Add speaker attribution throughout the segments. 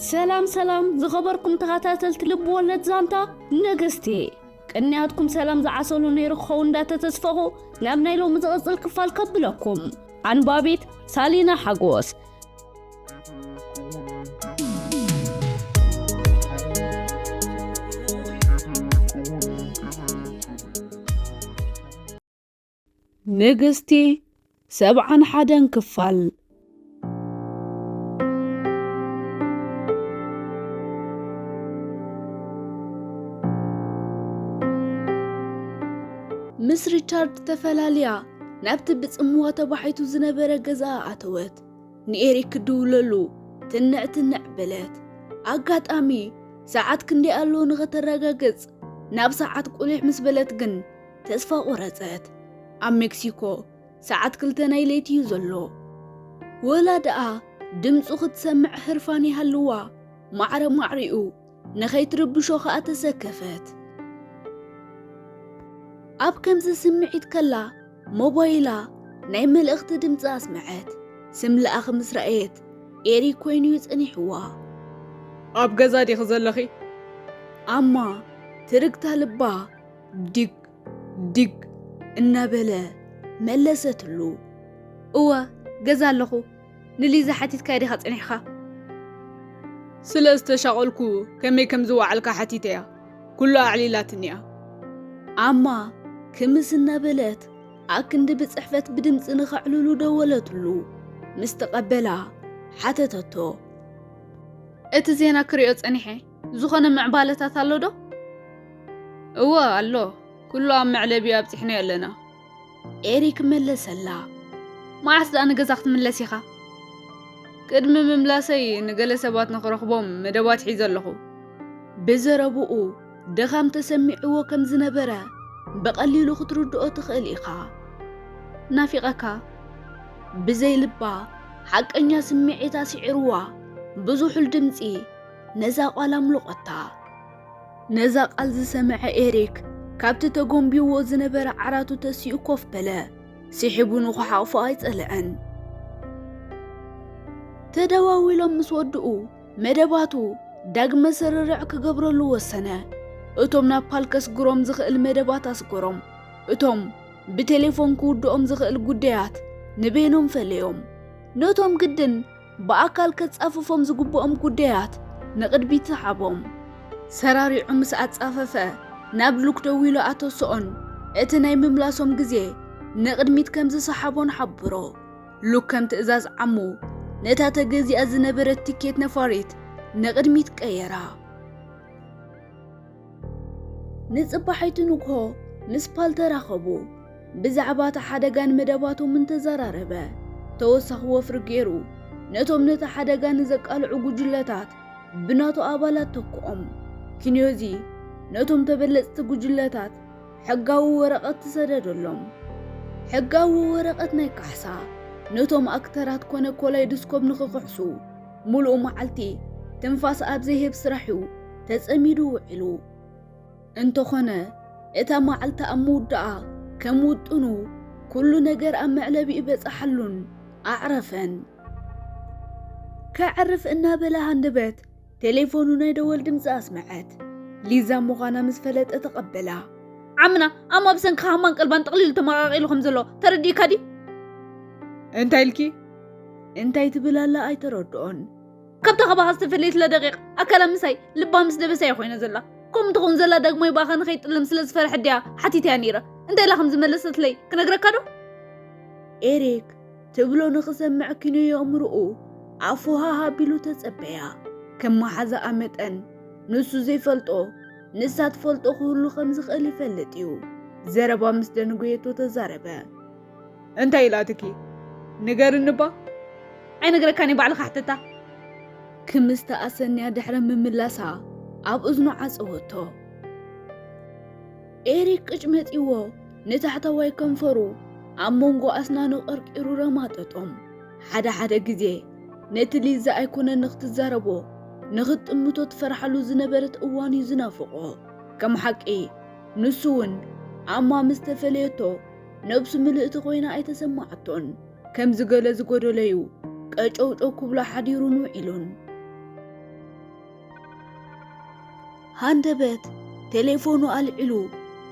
Speaker 1: ሰላም ሰላም ዝኸበርኩም ተኸታተልቲ ልቢ ወለድ ዛንታ ነገስቲ ቅንያትኩም ሰላም ዝዓሰሉ ነይሩ ክኸው እንዳተተስፈኹ ናብ ናይ ሎሚ ዝቕፅል ክፋል ከብለኩም ኣንባቢት ሳሊና ሓጎስ ንግስቲ ሰብዓን ሓደን ክፋል። ምስ ሪቻርድ ተፈላልያ ናብቲ ብጽምዋ ተባሒቱ ዝነበረ ገዛኣ ኣተወት። ንኤሪክ ክድውለሉ ትንዕ ትንዕ በለት። ኣጋጣሚ ሰዓት ክንደይ ኣሎ ንኸተረጋግጽ ናብ ሰዓት ቁሊሕ ምስ በለት ግን ተስፋ ቆረጸት። ኣብ ሜክሲኮ ሰዓት ክልተ ናይ ለይቲ እዩ ዘሎ። ወላ ደኣ ድምጹ ክትሰምዕ ህርፋን ይሃልዋ፣ ማዕረ ማዕሪኡ ንኸይትርብሾ ኸኣ ተሰከፈት። ኣብ ከምዚ ስምዒት ከላ ሞባይላ ናይ መልእኽቲ ድምጺ ኣስመዐት። ስም ለኣኺ ምስ ረኣየት ኤሪክ ኮይኑ እዩ ጸኒሕዋ። ኣብ
Speaker 2: ገዛ ዲኺ ዘለኺ? ኣማ
Speaker 1: ትርግታ ልባ ዲግ ዲግ እናበለ መለሰትሉ። እወ
Speaker 3: ገዛ ኣለኹ ንሊዛ ሓቲትካያ ዲኻ ጸኒሕካ? ስለ
Speaker 2: ዝተሻቐልኩ ከመይ ከም ዝወዓልካ ሓቲተያ ኩሉ ኣዕሊላትኒ እያ። ኣማ
Speaker 1: ክምስ እናበለት ኣክንዲ ብጽሕፈት ብድምፂ ንኸዕልሉ ደወለትሉ። ምስ ተቐበላ ሓተተቶ።
Speaker 3: እቲ ዜና ክሪኦ ጸኒሐ ዝኾነ ምዕባለታት ኣሎ ዶ? እወ ኣሎ፣
Speaker 2: ኩሉ ኣብ መዕለቢ ኣብጺሕናዮ ኣለና። ኤሪክ
Speaker 1: መለሰላ። መዓስ
Speaker 3: ደኣ ንገዛ ክትምለስ ኢኻ?
Speaker 2: ቅድሚ ምምላሰይ ንገለ ሰባት ንኽረኽቦም መደባት ሒዘ ኣለኹ። ብዘረብኡ
Speaker 1: ድኻም ተሰሚዕዎ ከም ዝነበረ ብቐሊሉ ክትርድኦ ትኽእል ኢኻ።
Speaker 3: ናፊቐካ
Speaker 1: ብዘይ ልባ ሓቀኛ ስምዒት ኣስዒርዋ ብዙሑል ድምጺ ነዛ ቓል ኣምልቖታ። ነዛ ቓል ዝሰምዐ ኤሪክ ካብቲ ተጎንቢዎ ዝነበረ ዓራቱ ተሲኡ ኮፍ በለ። ሲሒቡ ንኹሓቑፎ ኣይጸለዐን። ተደዋዊሎም ምስ ወድኡ መደባቱ ዳግመ ስርርዕ ክገብረሉ ወሰነ። እቶም ናብ ፓል ከስግሮም ዝኽእል መደባት ኣስገሮም። እቶም ብቴሌፎን ክውድኦም ዝኽእል ጉዳያት ንበይኖም ፈለዮም። ነቶም ግድን ብኣካል ከጻፍፎም ዝግብኦም ጉዳያት ንቕድሚት ሰሓቦም። ሰራሪዑ ምስ ኣጻፈፈ፣ ናብ ሉክ ደዊሉ ኣተሰኦን እቲ ናይ ምምላሶም ግዜ ንቕድሚት ከም ዝሰሓቦን ሓብሮ። ሉክ ከም ትእዛዝ ዓሙ፣ ነታ ተገዚኣ ዝነበረት ቲኬት ነፋሪት ንቕድሚት ቀየራ። ንጽባሒቱ ንግሆ ምስ ፓል ተራኸቡ። ብዛዕባ እቲ ሓደጋን መደባቶምን ተዘራረበ። ተወሳኺ ወፍሪ ገይሩ ነቶም ነቲ ሓደጋ ንዘቃልዑ ጉጅለታት ብናቱ ኣባላት ተክኦም። ኪንዮዚ ነቶም ተበለጽቲ ጉጅለታት ሕጋዊ ወረቐት ሰደደሎም። ሕጋዊ ወረቐት ናይ ካሕሳ ነቶም ኣክተራት ኮነ ኮላይድስኮፕ ንክክሕሱ። ሙሉእ መዓልቲ ትንፋስ ኣብ ዘይህብ ስራሕ እዩ ተጸሚዱ ውዒሉ። እንተኾነ እታ መዓልቲ ኣብ ምውዳኣ ከም ውጥኑ ኩሉ ነገር ኣብ መዕለቢኡ በጻሓሉን ኣዕረፈን። ከዕርፍ እናበለ ሃንደበት ቴሌፎኑ ናይ ደወል ድምጺ ኣስመዐት። ሊዛ ምዃና ምስ ፈለጠ ተቐበላ። ዓምና
Speaker 3: ኣሞ ብሰንኪ ሃማን ቀልባን ጠቕሊሉ ተመቓቒሉ ከም ዘሎ ተረዲእካ ድዩ?
Speaker 2: እንታይ ኢልኪ?
Speaker 1: እንታይ ትብል ኣላ ኣይተረድኦን ካብታ ካባኻ
Speaker 3: ዝተፈለየት ለደቂቕ ኣካላ ምሳይ ልባ ምስ ደበሰ እያ ኮይና ዘላ ከምኡ ትኸውን ዘላ ዳግማይ ብኣኻ ንኸይጥለም ስለ ዝፈርሐ ድያ ሓቲትያ ነይረ እንታይ ኢላ ከም ዝመለሰትለይ ክነግረካ ዶ
Speaker 1: ኤሪክ ትብሎ ንኽሰምዕ ኪኖ የእምርኡ ኣፉ ሃሃ ቢሉ ተጸበያ ከም መሓዛኣ መጠን ንሱ ዘይፈልጦ ንሳ ትፈልጦ ክህሉ ከም ዝኽእል ይፈልጥ እዩ ዘረባ ምስ ደንጎየቶ ተዛረበ እንታይ
Speaker 2: ኢላትኪ ንገርኒባ። ኣይነግረካን
Speaker 3: እየ ባዕልካ ሕተታ። ክምስ
Speaker 1: ተኣሰንያ ድሕሪ ምምላሳ ኣብ እዝኑ ዓጸወቶ። ኤሪክ ቅጭመጢዎ ንታሕተዋይ ከንፈሩ ኣብ መንጎ ኣስናኑ ቀርቂሩ ረማጠጦም ሓደ ሓደ ግዜ ነቲ ሊዛ ኣይኮነ ንክትዛረቦ ንክትጥምቶ ትፈርሓሉ ዝነበረት እዋን እዩ ዝናፍቆ ከም ሓቂ ንሱ እውን ኣማ ምስ ተፈለየቶ ነብሱ ምልእቲ ኮይና ኣይተሰማዓቶን። ከምዚ ገለ ዝጎደሎ'ዩ ቀጨውጨው ክብሎ ሓዲሩን ውዒሉን። ሃንደበት ቴሌፎኑ ኣልዒሉ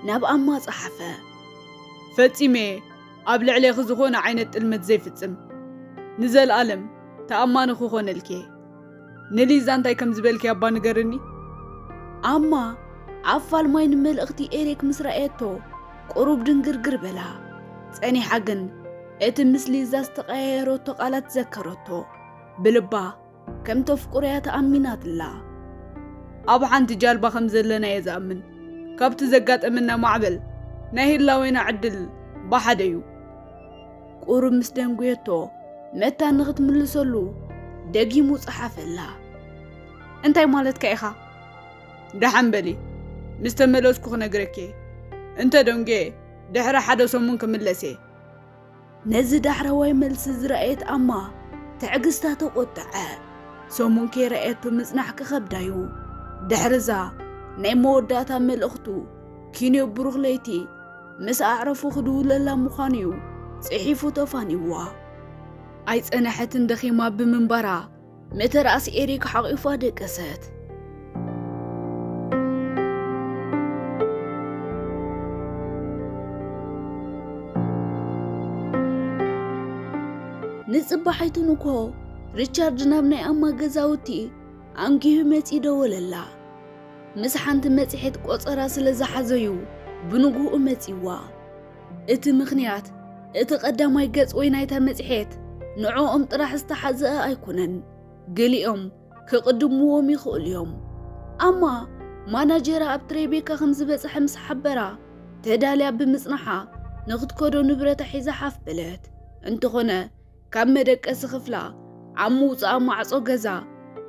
Speaker 1: ናብ ኣማ ጸሓፈ። ፈጺመ'የ
Speaker 2: ኣብ ልዕሌኺ ዝኾነ ዓይነት ጥልመት ዘይፍጽም። ንዘልኣለም ተኣማኒ ክኾነልኪ'የ። ንሊዛ እንታይ ከም ዝበልክያ እባ ንገርኒ። ኣማ
Speaker 1: ኣብ ፋልማይ ንመልእኽቲ ኤሪክ ምስ ረኣየቶ ቁሩብ ድንግርግር በላ። ጸኒሓ ግን እቲ ምስ ሊዛ ዝተቐያየረቶ ቃላት ዘከረቶ። ብልባ ከም ተፍቁርያ ተኣሚናትላ። ኣብ
Speaker 2: ሓንቲ ጃልባ ከም ዘለና እየ ዝኣምን። ካብቲ ዘጋጠመና ማዕበል ናይ ህላዌና ዕድል ብሓደ እዩ።
Speaker 1: ቁሩብ ምስ ደንጉየቶ መታን ንኽትምልሰሉ ደጊሙ ጸሓፈላ። እንታይ
Speaker 2: ማለትካ ኢኻ? ደሓን በሊ ምስ ተመለስኩ ክነግረኪ እየ። እንተ ደንጉየ ድሕሪ ሓደ ሰሙን ክምለስ እየ።
Speaker 1: ነዚ ዳሕረዋይ መልሲ ዝረኣየት ኣማ ትዕግስታ ተቖጠዐ። ሰሙን ከይረኣየቶ ምጽናሕ ክኸብዳ እዩ። ድሕርዛ ናይ መወዳእታ መልእኽቱ ኪንዮ ብሩኽ ለይቲ ምስ ኣዕረፉ ክድውለላ ምዃኑ'ዩ ጽሒፉ ተፋኒዋ። ኣይጸነሐትን ደኺማ ብምንባራ መተርኣስ ኤሪክ ሓቒፋ ደቀሰት። ንጽባሒቱ ንኮ ሪቻርድ ናብ ናይ ኣማ ገዛውቲ ኣንጊሁ መጺኡ ደወለላ። ምስ ሓንቲ መጽሔት ቆጸራ ስለ ዝሓዘዩ ብንግኡ መጺዋ። እቲ ምኽንያት እቲ ቀዳማይ ገጽ ወይ ናይታ መጽሔት ንዕኦም ጥራሕ ዝተሓዘአ ኣይኮነን፣ ገሊኦም ክቕድምዎም ይኽእሉ እዮም። ኣማ ማናጀራ ኣብ ትሬቤካ ከም ዝበጽሐ ምስ ሓበራ፣ ተዳልያ ብምጽናሓ ንኽትከዶ ንብረታ ሒዛ ሓፍ በለት። እንተኾነ ካብ መደቀሲ ክፍላ ኣብ ምውጽኣ ማዕጾ ገዛ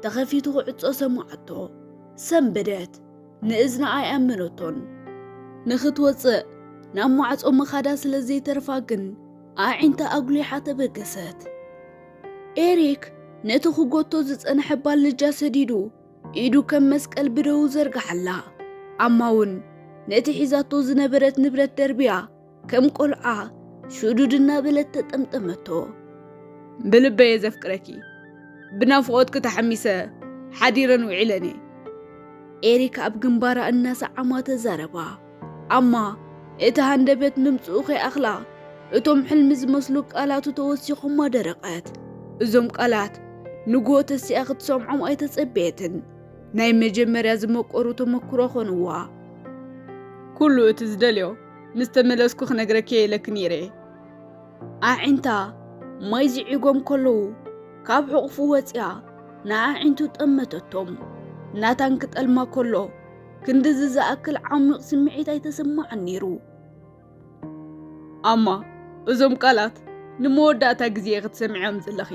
Speaker 1: ተኸፊቱ ክዕጾ ሰማዓቶ። ሰንበደት። ንእዝና ኣይኣመነቶን። ንኽትወጽእ ናብ ማዕጾ ምኻዳ ስለ ዘይተርፋ ግን ኣዒንታ ኣጉሊሓ ተበገሰት። ኤሪክ ነቲ ክጎቶ ዝጸንሐ ባልጃ ሰዲዱ ኢዱ ከም መስቀል ብደዉ ዘርግሓላ። ኣማ ውን ነቲ ሒዛቶ ዝነበረት ንብረት ደርብያ ከም ቆልዓ ሽዱድ እናበለት ተጠምጠመቶ።
Speaker 2: ብልበየ ዘፍቅረኪ ብናፍቖትኪ ተሓሚሰ ሓዲረን ውዒለን እየ። ኤሪክ
Speaker 1: ኣብ ግንባራ እናሰዓማ ተዛረባ። ኣማ እቲ ሃንደበት ምምፅኡ ከይኣኽላ እቶም ሕልሚ ዝመስሉ ቃላቱ ተወሲኾማ ደረቐት። እዞም ቃላት ንግሆ ተሲኣ ክትሰምዖም ኣይተጸበየትን። ናይ መጀመርያ ዝመቆሩ ተመክሮ ኾንዋ።
Speaker 2: ኩሉ እቲ ዝደልዮ ምስ ተመለስኩ ክነግረኪ እየ ኢለኪ ነይረ።
Speaker 1: ኣዒንታ ማይ ዝዒጎም ከለዉ ካብ ሕቑፉ ወፂኣ ንኣዒንቱ ጠመተቶም። ናታን ክጠልማ ከሎ ክንድዚ ዝኣክል ዓሚቕ ስምዒት ኣይተሰማዕን ነይሩ።
Speaker 2: ኣማ እዞም ቃላት ንመወዳእታ ግዜ ክትሰምዕዮም ዘለኺ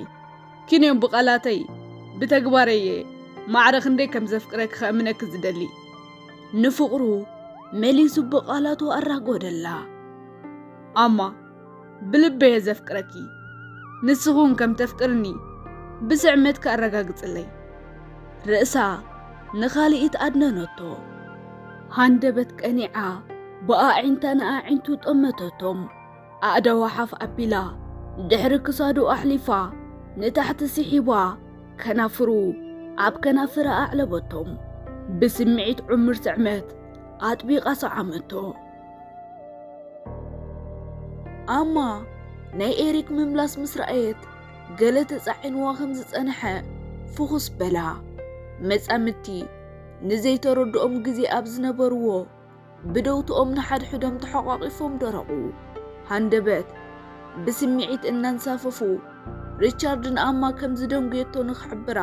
Speaker 2: ኪን እዮም ብቓላተይ ብተግባረይ እየ ማዕረ ክንደይ ከም ዘፍቅረኪ ከእምነኪ ዝደሊ ንፍቕሩ
Speaker 1: መሊሱ ብቓላቱ ኣራጎደላ ኣማ
Speaker 2: ብልበየ ዘፍቅረኪ ንስኹን ከም ተፍቅርኒ ብስዕመትኪ ኣረጋግጽለይ ርእሳ
Speaker 1: ንኻልኢት ኣድነነቶ ሃንደበት ቀኒዓ ብኣዒንታ ንኣዒንቱ ጠመተቶም ኣእዳዋ ሓፍ ኣቢላ ድሕሪ ክሳዱ ኣሕሊፋ ንታሕቲ ስሒባ ከናፍሩ ኣብ ከናፍራ ኣዕለበቶም። ብስምዒት ዕሙር ስዕመት ኣጥቢቓ ሰዓመቶ። ኣማ ናይ ኤሪክ ምምላስ ምስ ረኣየት ገለ ተጻዒንዋ ከም ዝጸንሐ ፍኹስ በላ። መጻምድቲ ንዘይተረድኦም ግዜ ኣብ ዝነበርዎ ብደውትኦም ንሓድሕዶም ተሓቋቒፎም ደረቑ። ሃንደበት ብስምዒት እናንሳፈፉ ሪቻርድ ንኣማ ከም ዝደንጉየቶ ንኽሕብራ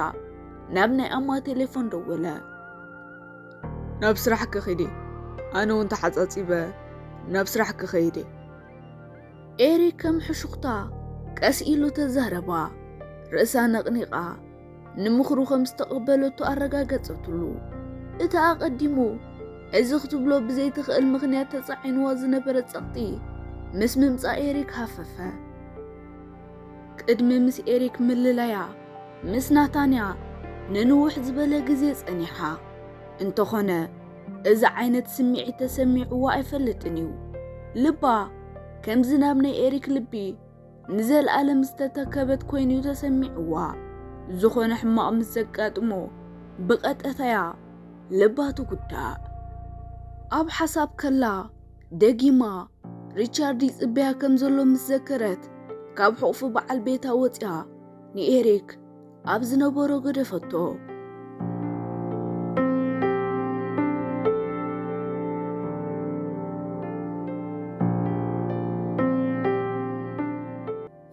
Speaker 1: ናብ ናይ ኣማ ቴሌፎን ደወለ።
Speaker 2: ናብ ስራሕ ክኺድ ኣነ እውን ተሓፃፂበ ናብ ስራሕ ክኸይድ
Speaker 1: ኤሪ ከም ሕሹኽታ ቀስ ኢሉ ተዛረባ። ርእሳ ነቕኒቓ ንምኽሩ ከም ዝተቐበለቶ ኣረጋገጸትሉ። እቲ ኣቐዲሙ እዚ ክትብሎ ብዘይትኽእል ምኽንያት ተጻዒንዎ ዝነበረ ጸቕጢ ምስ ምምጻእ ኤሪክ ሃፈፈ። ቅድሚ ምስ ኤሪክ ምልላያ ምስ ናታንያ ንንውሕ ዝበለ ግዜ ጸኒሓ። እንተኾነ እዚ ዓይነት ስምዒት ተሰሚዕዎ ኣይፈልጥን እዩ። ልባ ከምዚ ናብ ናይ ኤሪክ ልቢ ንዘለኣለም ዝተተከበት ኮይኑ እዩ ተሰሚዕዋ። ዝኾነ ሕማቕ ምስ ዘጋጥሞ ብቐጠታ እያ ልባ ትጉዳእ። ኣብ ሓሳብ ከላ ደጊማ ሪቻርድ ይጽበያ ከም ዘሎ ምስ ዘከረት ካብ ሕቑፉ በዓል ቤታ ወጽያ ንኤሪክ ኣብ ዝነበሮ ገደፈቶ።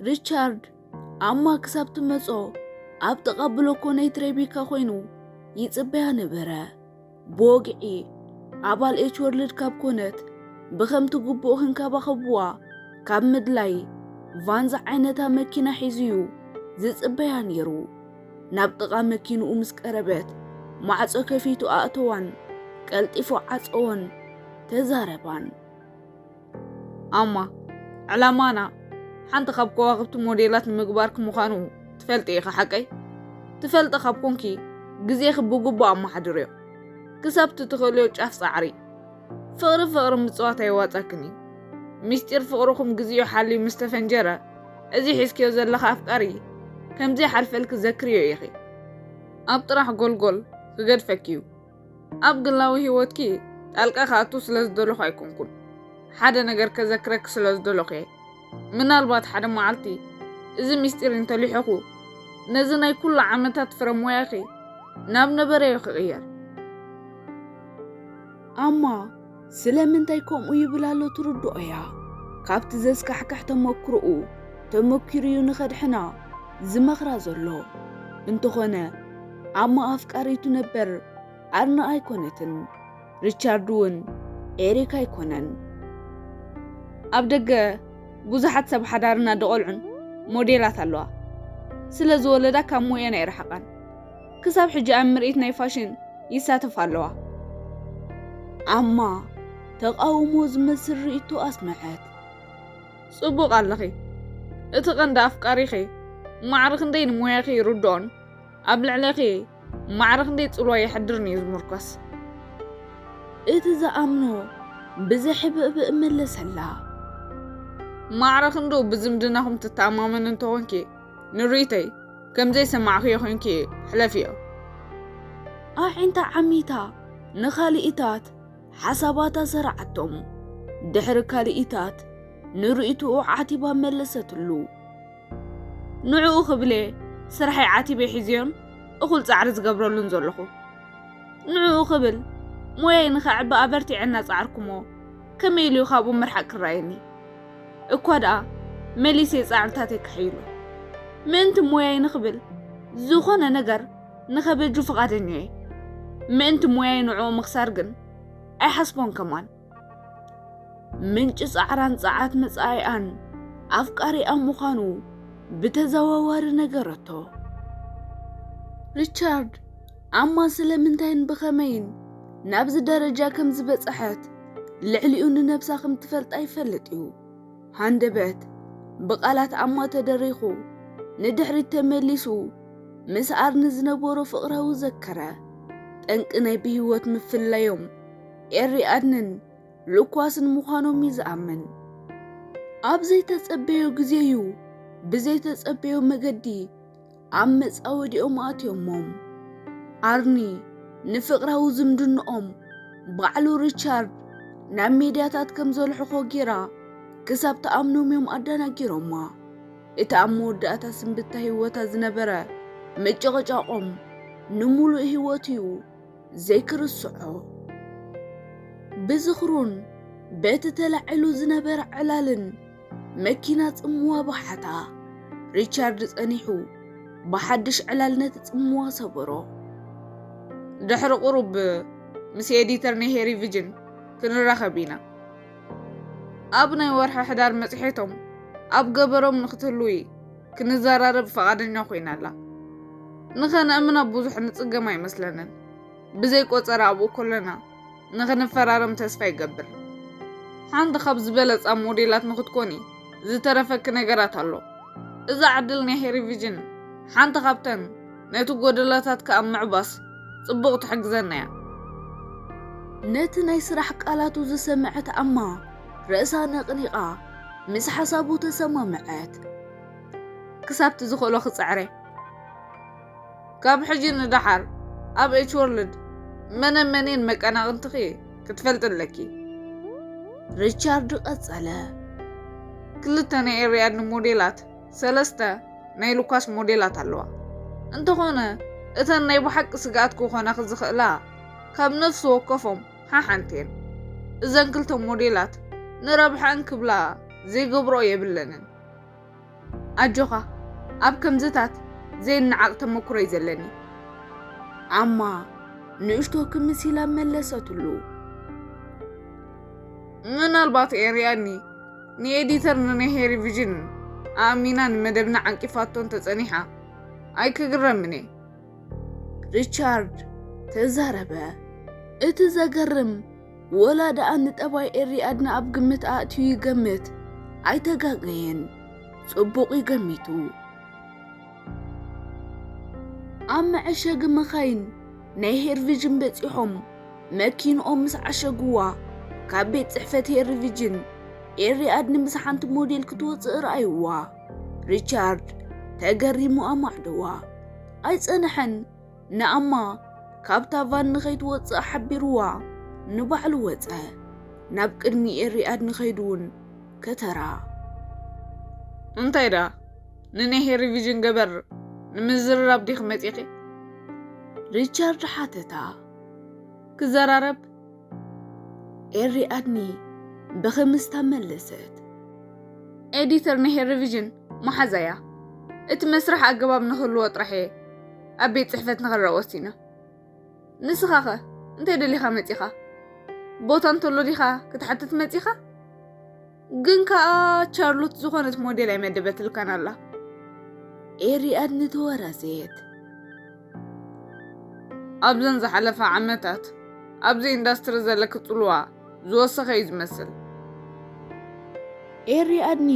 Speaker 1: ሪቻርድ ኣማ ክሳብ ትመጾ ኣብ ጥቓ ብሎኮ ናይት ሬቢካ ኮይኑ ይጽበያ ነበረ። ብወግዒ ኣባል ኤች ወርልድ ካብ ኮነት ብከምቲ ግቡእ ክንከባኸብዋ ካብ ምድላይ ቫን ዝዓይነታ መኪና ሒዙዩ ዝጽበያ ነይሩ። ናብ ጥቓ መኪንኡ ምስ ቀረበት ማዕጾ ከፊቱ ኣእተዋን ቀልጢፉ ዓጸዎን ተዛረባን።
Speaker 2: ኣማ ዕላማና ሓንቲ ካብ ከዋኽብቲ ሞዴላት ንምግባርክ ምዃኑ ትፈልጢ ኢኻ ሓቀይ ትፈልጢ ካብ ኮንኪ ግዜኺ ብግቡእ ኣመሓድርዮ ክሳብ ትትኽእልዮ ጫፍ ፃዕሪ ፍቕሪ ፍቕሪ ምፅዋት ኣይዋፀክን እዩ ምስጢር ፍቕርኹም ግዜኡ ሓልዩ ምስ ተፈንጀረ እዚ ሒዝክዮ ዘለኻ ኣፍቃሪ ከምዘይሓልፈልኪ ዘክርዮ ኢኺ ኣብ ጥራሕ ጎልጎል ክገድፈኪ እዩ ኣብ ግላዊ ህይወትኪ ጣልቃ ክኣቱ ስለ ዝደለኹ ኣይኮንኩን ሓደ ነገር ከዘክረኪ ስለ ዝደለኹ እየ ምናልባት ሓደ መዓልቲ እዚ ምስጢር እንተሊሐኹ ነዚ ናይ ኩሉ ዓመታት ፍረ ሞያኺ ናብ ነበረዮ ክቕየር
Speaker 1: ኣማ ስለምንታይ ከምኡ ይብል ኣሎ ትርድኦ እያ። ካብቲ ዘስካሕክሕ ተመክሮኡ ተመኪሩዩ ንኸድሕና ዝመኽራ ዘሎ። እንተኾነ ኣማ ኣፍቃሪቱ ነበር ኣርና ኣይኮነትን። ሪቻርድ እውን ኤሪክ ኣይኮነን።
Speaker 2: ኣብ ደገ ብዙሓት ሰብ ሓዳርን ኣደ ቆልዑን ሞዴላት ኣለዋ። ስለ ዝወለዳ ካብ ሞየን ኣይረሓቓን። ክሳብ ሕጂ ኣብ ምርኢት ናይ ፋሽን ይሳተፋ ኣለዋ።
Speaker 1: ኣማ ተቓውሞ ዝመስል ርእይቶ ኣስመዐት።
Speaker 2: ጽቡቕ ኣለኺ፣ እቲ ቀንዲ ኣፍቃሪኺ ማዕረ ክንደይ ንሞያኺ ይርድኦን ኣብ ልዕሌኺ ማዕረ ክንደይ ጽልዋ የሕድርን እዩ ዝምርኮስ።
Speaker 1: እቲ ዝኣምኖ ብዘሕብእብእ መለሰላ።
Speaker 2: ማዕረ ክንድኡ ብዝምድናኹም ትተኣማመኒ እንተኾንኪ ንሪተይ ከምዘይሰማዕክዮ ኮንኪ ሕለፍዮ።
Speaker 1: ኣዒንታ ዓሚታ ንካልኢታት ሓሳባታ ሰርዓቶም። ድሕሪ ካልኢታት ንርኢትኡ ዓቲባ መለሰትሉ። ንዕኡ ክብልየ ስርሐይ ዓቲበ ሒዝዮን እኹል ጻዕሪ ዝገብረሉን ዘለኹ። ንዕኡ ክብል ሞያይ ንኸዕቢ ኣበርቲዐ እናጸዓርኩሞ ከመይ ኢሉዩ ካብኡ ምርሓቕ ክረኣየኒ? እኳ ደኣ መሊሰ ጻዕርታተይ ክሕይሎ ምእንቲ ሞያይ ንኽብል ዝኾነ ነገር ንኸበጁ ፍቓደኛ እየ። ምእንቲ ሞያይ ንዕኡ ምኽሳር ግን ኣይሓስቦን ከማን። ምንጪ ጻዕራን ጸዓት መጻኢኣን ኣፍቃሪኣ ምዃኑ ብተዘዋዋሪ ነገረቶ። ሪቻርድ ኣማ ስለምንታይን ብኸመይን ናብዚ ደረጃ ከም ዝበጽሐት ልዕሊኡ ንነብሳ ከም ትፈልጣ ይፈልጥ እዩ። ሃንደበት ብቓላት ኣማ ተደሪኹ ንድሕሪት ተመሊሱ ምስ ኣርኒ ዝነበሮ ፍቕራዊ ዘከረ። ጠንቂ ናይ ብህይወት ምፍላዮም ኤሪ ኣድንን ልኳስን ምዃኖም እዩ ዝኣምን። ኣብ ዘይተጸበዮ ግዜ እዩ ብዘይተጸበዮ መገዲ ኣብ መጻወድኦም ኣትዮሞም። ኣርኒ ንፍቕራዊ ዝምድንኦም ባዕሉ ሪቻርድ ናብ ሜድያታት ከም ዘልሕኾ ጌራ ክሳብ ትኣምኖምዮም ኣዳናጊሮማ። እቲ ኣብ መወዳእታ ስንብታ ህይወታ ዝነበረ ምጭቕጫቖም ንሙሉእ ህይወቱዩ ዘይክርስዖ። ብዝኽሩን በቲ ተላዒሉ ዝነበረ ዕላልን መኪና ጽምዋ ባሓታ ሪቻርድ ጸኒሑ ብሓድሽ ዕላል ነቲ ጽምዋ ሰበሮ።
Speaker 2: ድሕሪ ቁሩብ ምስ ኤዲተር ናይ ሄሪ ቪጅን ክንራኸብ ኢና። ኣብ ናይ ወርሒ ሕዳር መጽሔቶም ኣብ ገበሮም ንክትህልዊ ክንዘራረብ ፈቓደኛ ኮይና ኣላ። ንኸነእምና ብዙሕ ንጽገም ኣይመስለንን። ብዘይ ቆጸራ ኣብኡ ኮለና ንኽንፈራረም ተስፋ ይገብር። ሓንቲ ካብ ዝበለጻ ሞዴላት ንኽትኮኒ ዝተረፈኪ ነገራት ኣሎ። እዛ ዕድል ናይ ሄሪቪዥን ሓንቲ ካብተን ነቲ ጎደሎታትኪ ኣብ ምዕባስ ጽቡቕ ትሕግዘና እያ።
Speaker 1: ነቲ ናይ ስራሕ ቃላቱ ዝሰምዐት ኣማ ርእሳ ነቕኒቓ ምስ ሓሳቡ ተሰማምዐት።
Speaker 2: ክሳብቲ ዝኽእሎ ክጽዕር እየ። ካብ ሕጂ ንደሓር ኣብ ኤች ወርልድ መነ መኔን መቀናቕንትኺ ክትፈልጢ ኣለኪ።
Speaker 1: ሪቻርድ ቀጸለ።
Speaker 2: ክልተ ናይ ኤርያድኒ ሞዴላት፣ ሰለስተ ናይ ሉካስ ሞዴላት ኣለዋ። እንተኾነ እተን ናይ ብሓቂ ስግኣት ክኾናኺ ዝኽእላ ካብ ነፍሲ ወከፎም ሓሓንቲ እየን። እዘን ክልተ ሞዴላት ንረብሐኣን ክብላ ዘይገብርኦ የብለንን። ኣጆኻ ኣብ ከምዝታት ዘይነዓቕ ተመኩሮ እዩ ዘለኒ።
Speaker 1: ኣማ ንእሽቶ ክምስ ኢላ መለሰትሉ።
Speaker 2: ምናልባት ኤርያኒ ንኤዲተር ንናይ ሄሪ ቪዥን ኣእሚና ንመደብና ዓንቂፋቶ እንተጸኒሓ ኣይክግረምን እየ።
Speaker 1: ሪቻርድ ተዛረበ። እቲ ዘገርም ወላ ደኣ ንጠባይ ኤሪ ኣድና ኣብ ግምት ኣእትዩ ይገምት ኣይተጋገየን ጽቡቕ እዩ ገሚቱ ኣብ መዐሸጊ መኻይን ናይ ሄርቪጅን በጺሖም መኪንኦም ምስ ዓሸግዋ ካብ ቤት ጽሕፈት ሄርቪጅን ኤሪ ኣድኒ ምስ ሓንቲ ሞዴል ክትወጽእ ረኣይዋ ሪቻርድ ተገሪሙ ኣማዕደዋ ኣይጸንሐን ንኣማ ካብታ ቫን ንኸይትወጽእ ሓቢርዋ ንባዕሉ ወጸ። ናብ ቅድሚ ኤሪኣድ ንኸይዱ እውን ከተራ።
Speaker 2: እንታይ ደኣ ንኔሄ ሪቪዥን ገበር ንምዝርራብ ዲኺ መጺኺ?
Speaker 1: ሪቻርድ ሓተታ።
Speaker 2: ክዘራረብ?
Speaker 1: ኤሪኣድኒ ብኽምስታ መለሰት።
Speaker 2: ኤዲተር ኔሄ ሪቪዥን መሓዛያ እቲ መስርሕ ኣገባብ ንኽህልዎ ጥራሕ እየ። ኣብ ቤት ጽሕፈት ንኽረእ ወሲኑ። ንስኻ ኸ እንታይ ደሊኻ መጺኻ? ቦታ እንተሎ ዲኻ ክትሓትት መጺኻ? ግን ከኣ ቻርሎት ዝኾነት ሞዴል ኣይመደበትልካን ኣላ።
Speaker 1: ኤሪኣድ ንተወራዘየት
Speaker 2: ኣብዘን ዝሓለፋ ዓመታት ኣብዚ ኢንዳስትሪ ዘለኪ ጽልዋ ዝወሰኸ እዩ ዝመስል።
Speaker 1: ኤሪኣድኒ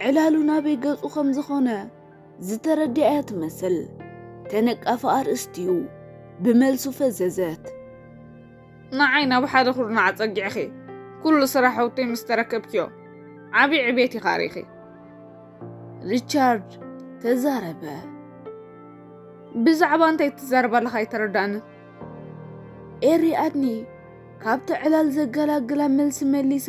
Speaker 1: ዕላሉ ናበይ ገጹ ከም ዝኾነ ዝተረድኣያ ትመስል ተነቃፊ ኣርእስቲ'ዩ ብመልሱ ፈዘዘት።
Speaker 2: ንዓይ ናብ ሓደ ኩርናዕ ኣጸጊዕኺ ኩሉ ስራሕውተይ ምስ ተረከብክዮ ዓቢ ዕቤት ኢኻ ሪእኺ።
Speaker 1: ሪቻርድ ተዛረበ።
Speaker 2: ብዛዕባ እንታይ ትዛረብ ኣለኻ ኣይተረድኣንን። ኤሪ ኣድኒ
Speaker 1: ካብቲ ዕላል ዘገላግላ መልሲ መሊሳ።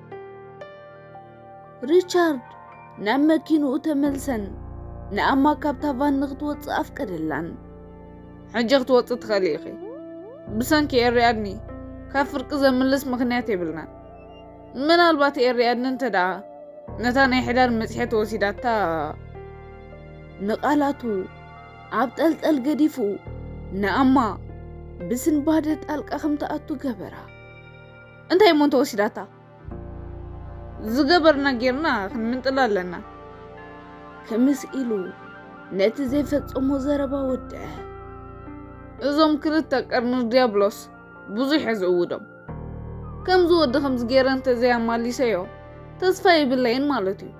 Speaker 1: ሪቻርድ ናብ መኪንኡ ተመልሰን ንኣማ ካብታ ቫን ንክትወፅእ ኣፍቀደላን ሕጂ
Speaker 2: ክትወፅእ ትኽእሊ ኢኺ ብሰንኪ ኤርያድኒ ካብ ፍርቂ ዘምልስ ምክንያት የብልናን ምናልባት ኤርያድኒ እንተ ደኣ ነታ ናይ ሕዳር መፅሔት ወሲዳታ ንቓላቱ
Speaker 1: ኣብ ጠልጠል ገዲፉ ንኣማ ብስንባደ ጣልቃ ከም ትኣቱ ገበራ እንታይ
Speaker 2: እሞ እንተወሲዳታ ዝገበርና ጌርና ክንምንጥላ ኣለና
Speaker 1: ክምስ ኢሉ ነቲ ዘይፈጸሞ ዘረባ ወድዐ
Speaker 2: እዞም ክልተ ቀርኒ ዲያብሎስ ብዙሕ እየ ዝእውዶም ከምዚ ወዲ ከምዚ ገይረ እንተዘይኣማሊሰዮ ተስፋ የብለይን ማለት እዩ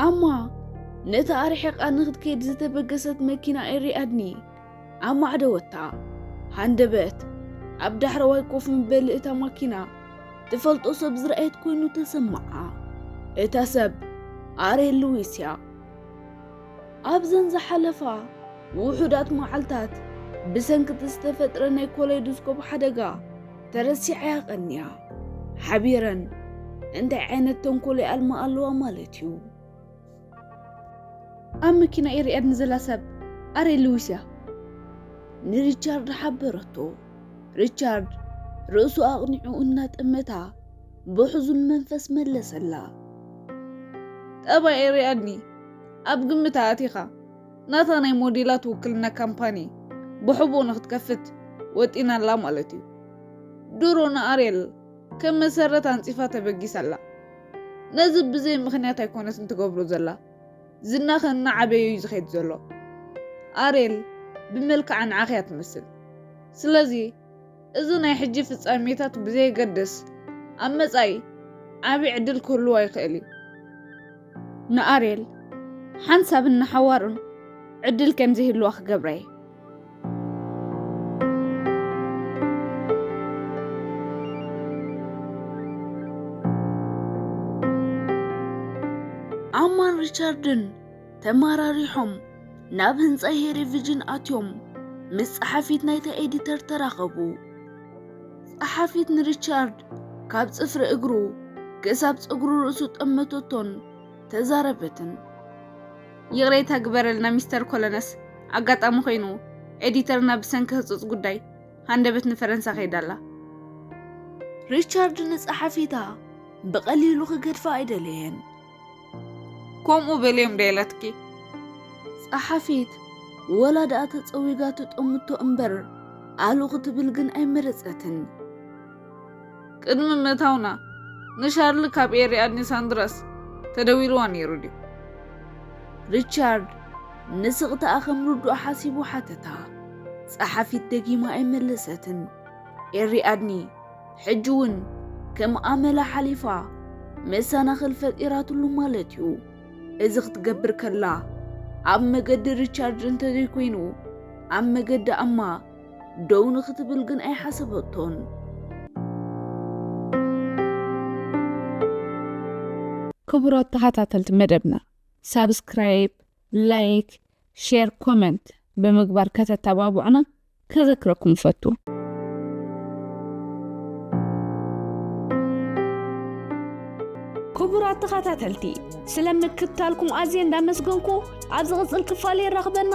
Speaker 1: ኣማ ነቲ ኣርሒቓ ንክትከይድ ዝተበገሰት መኪና ኤሪ ኣድኒ ኣብ ማዕደወታ ሃንደበት ኣብ ዳሕረዋይ ኮፍ ምበሊ እታ ማኪና ትፈልጦ ሰብ ዝረኣየት ኮይኑ ተሰምዓ። እታ ሰብ ኣሬ ሉዊስ እያ። ኣብዘን ዝሓለፋ ውሑዳት መዓልታት ብሰንኪ እቲ ዝተፈጥረ ናይ ኮሌዶስኮፕ ሓደጋ ተረሲዓ እያ ቀንያ። ሓቢረን እንታይ ዓይነት ተንኮል ይኣልማ ኣለዋ ማለት እዩ። ኣብ መኪና እየ ርእያኒ ዘላ ሰብ ኣሬ ልዊስ እያ ንሪቻርድ ሓበረቶ። ሪቻርድ ርእሱ ኣቕኒዑ እናጠመታ ብሕዙን መንፈስ መለሰላ።
Speaker 2: ጠባይ ርኣኒ ኣብ ግምት ኣእቲኻ ናታ ናይ ሞዴላት ውክልና ካምፓኒ ብሕቡእ ንክትከፍት ወጢና ኣላ ማለት እዩ። ድሮ ንኣርየል ከም መሰረት ኣንጺፋ ተበጊሳ ኣላ። ነዚ ብዘይ ምኽንያት ኣይኮነትን ትገብሮ ዘላ። ዝናኸ እናዓበየ'ዩ ዝኸይድ ዘሎ። ኣርየል ብመልክዓ ንዓኺ'ያ ትመስል። ስለዚ እዚ ናይ ሕጂ ፍጻሜታት ብዘየገድስ ኣብ መጻኢ ዓቢ ዕድል ክህልዋ ይኽእል'ዩ። ንኣርየል ሓንሳብን ንሓዋሩን ዕድል ከም ዘይህልዋ ክገብራ'የ።
Speaker 1: ኣማን ሪቻርድን ተመራሪሖም ናብ ህንፃ ሄሪቪጅን ኣትዮም ምስ ፀሓፊት ናይታ ኤዲተር ተራኸቡ ፀሓፊት ንሪቻርድ ካብ ፅፍሪ እግሩ ክሳብ ፀጉሪ ርእሱ ጠመተቶን ተዛረበትን
Speaker 2: ይቕሬታ ግበረልና ሚስተር ኮለነስ፣ ኣጋጣሚ ኮይኑ ኤዲተርና ብሰንኪ ህጹጽ ጉዳይ ሃንደበት ንፈረንሳ ከይዳ ኣላ። ሪቻርድ
Speaker 1: ንጸሓፊታ ብቐሊሉ ክገድፋ ኣይደለየን።
Speaker 2: ከምኡ በልዮም ዶ ኢላትኪ?
Speaker 1: ጸሓፊት ወላ ደኣ ተጸዊጋ ትጠምቶ እምበር ኣሉ ክትብል ግን ኣይመረጸትን።
Speaker 2: ቅድሚ ምእታውና ንሻርሊ ካብ ኤሪኣድኒ ሳንድራስ ተደዊልዋ ነይሩ ድዩ?
Speaker 1: ሪቻርድ ንስቕታኣ ከም ርዱእ ሓሲቡ ሓተታ። ጸሓፊት ደጊማ ኣይመለሰትን። ኤሪኣድኒ ሕጂ እውን ከም ኣመላ ሓሊፋ መሰናኽል ፈጢራትሉ ማለት እዩ። እዚ ክትገብር ከላ ኣብ መገዲ ሪቻርድ እንተዘይኮይኑ ኣብ መገዲ ኣማ ደው ንኽትብል ግን ኣይሓሰበቶን።
Speaker 3: ክቡራት ተኸታተልቲ መደብና ሳብስክራይብ፣ ላይክ፣ ሼር፣ ኮመንት ብምግባር ከተተባብዑና ከዘክረኩም እፈቱ። ክቡራት ተኸታተልቲ ስለ ምክትታልኩም ኣዝየ እንዳመስገንኩ ኣብ ዝቕጽል ክፋል የራኽበና።